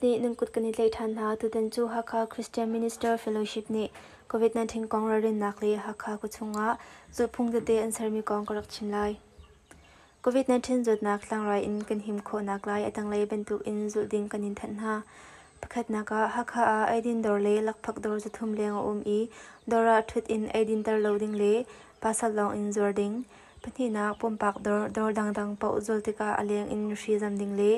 nih nan kut kan i tlaih ṭhan hna. Tutan cu Hakha Christian Minister Fellowship nih COVID-19 kong ralrinnak le Hakha khuachung ah zulhphung tete an sermi kong ka rak chim lai. COVID-19 zawtnak tlangrai in kan him khawhnak lai a tanglei bantukin zulh ding kan in thanh hna. Pakhatnak ah, Hakha ah eidin dawr le lakphak dawr zathum leng a um i dawr ah ṭhut in eidinter lo ding le pasal lawng in zuar ding. Pahnihnak, pumpak dawr dawr dangdang paoh zawl tikah a leng in nuhri zam ding le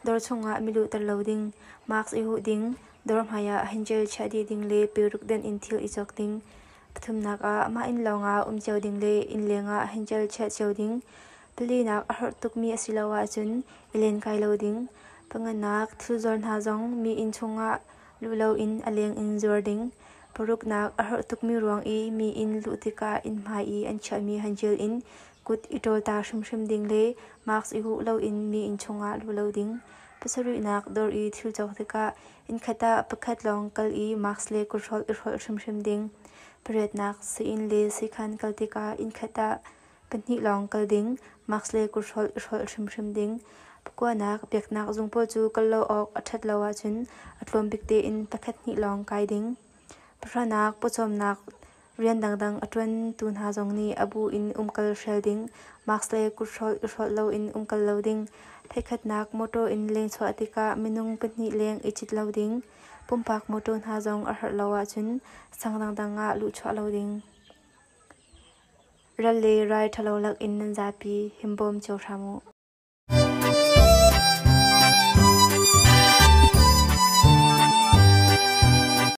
dawr chungah mi luhter lo ding, mask i huh ding, dawr hmaiah hanjil chiah dih ding le pilruk denh in thil i cawk ding. Pathumnak ah mah inn lawngah um cio ding le inn lengah hinṭel chiah cio ding. Palinak a harh tukmi a si lo ahcun i len kai lo ding. Panganak thil zuar hna zong mi inn chungah luh loin a leng in zuar ding. Paruknak a harh tukmi ruang i mi inn luh tikah inn hmai i an chiahmi hanṭil in kut i ṭawl ta hrimhrim ding le mask i huh loin mi inn chungah luh lo ding. Pasarihnak dawr i thil cawk tikah Innkhat ah pakhat lawng kal i mask le kuthrolh i hrolh hrimhrim ding. Pariatnak sain le sikhan kal tikah innkhat ah pahnih lawng kal ding. Mask le kuthrolh i hrolh hrimhrim ding. Pakuanak biaknak zung pawl cu kal lo awk a ṭhat lo ahcun a tlawm bik tein pakhat hnih lawng kai ding. Pahranak pawcawmnak Rian dangdang a ṭuantu hna zong nih a bu in umkal hrial ding, mask le kut hrolh i hrolh loin umkal lo ding, theihkhatnak mawṭaw in leng chuah tikah minung pahnih leng i cit lo ding, pumpak mawṭaw hna zong a herh lo ahcun sang dangdang ah luhchuah lo ding. Ral le rai ṭhalo lakin nan zapi himbawm cio hram u.